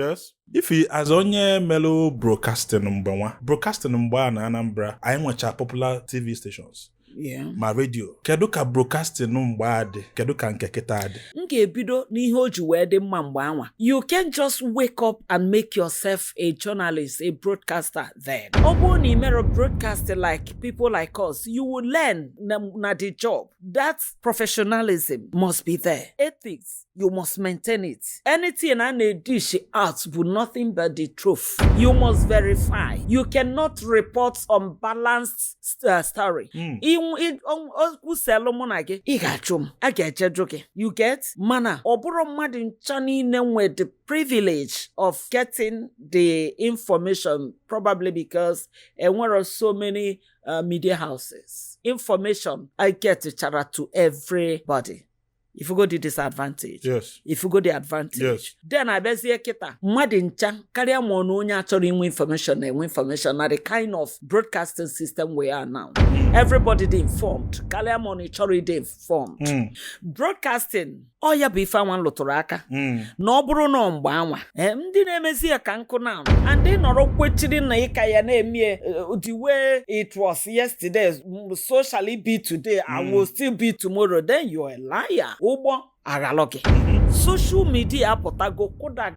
yes Ify as onye melụ broadcasting mgbe anwa broadcasting mgbe a na anambra anyị nwecha popular tv stations Yeah. ma redio kedu ka broadcasting mgbe a dị kedu ka nke kịta a dị m ga-ebido n'ihe o ji wee dị mma mgbe anwa you can't just wake up and make yourself a journalist a broadcaster then ọ bụrụ na ị mere broadcasting like people like us you will learn na, na the job that professionalism must be there ethics you must maintain it anything a na-edish out bụ nothing but the truth you must verify you cannot report unbalanced uh, story Hmm. okwu selụ mụ na gị ị ga-ajụ m a ga-eje jụọ gị you get mana ọ bụrọ mmadụ ncha niile nwe the privilege of getting the information probably because enwerọ so many uh, media houses information agetcharọ to everybody ị fụgo the disadvantage yes ị fụgo the advantage Yes. then a bịazie kịta mmadụ ncha karịa ma ọ na onye achọrọ inwe information na-enwe information na the kind of broadcasting system we are now everybody dị informed karịa ma ọ na ị chọrọ ịdị informed Mm, broadcasting ọ ya bụ ife anwa m lụtụrụ aka mm, na ọ bụrụ na ọ mgbe anwa ee ndị na-emezi ya ka nkụ na and ị nọrọ kwechiri na ị ka ya na-eme eh, the way it was yesterday mm, so shall it be today and Mm. will still be tomorrow then you're a liar ụgbọ aghalụ gị Mhm. social media apụtago kụda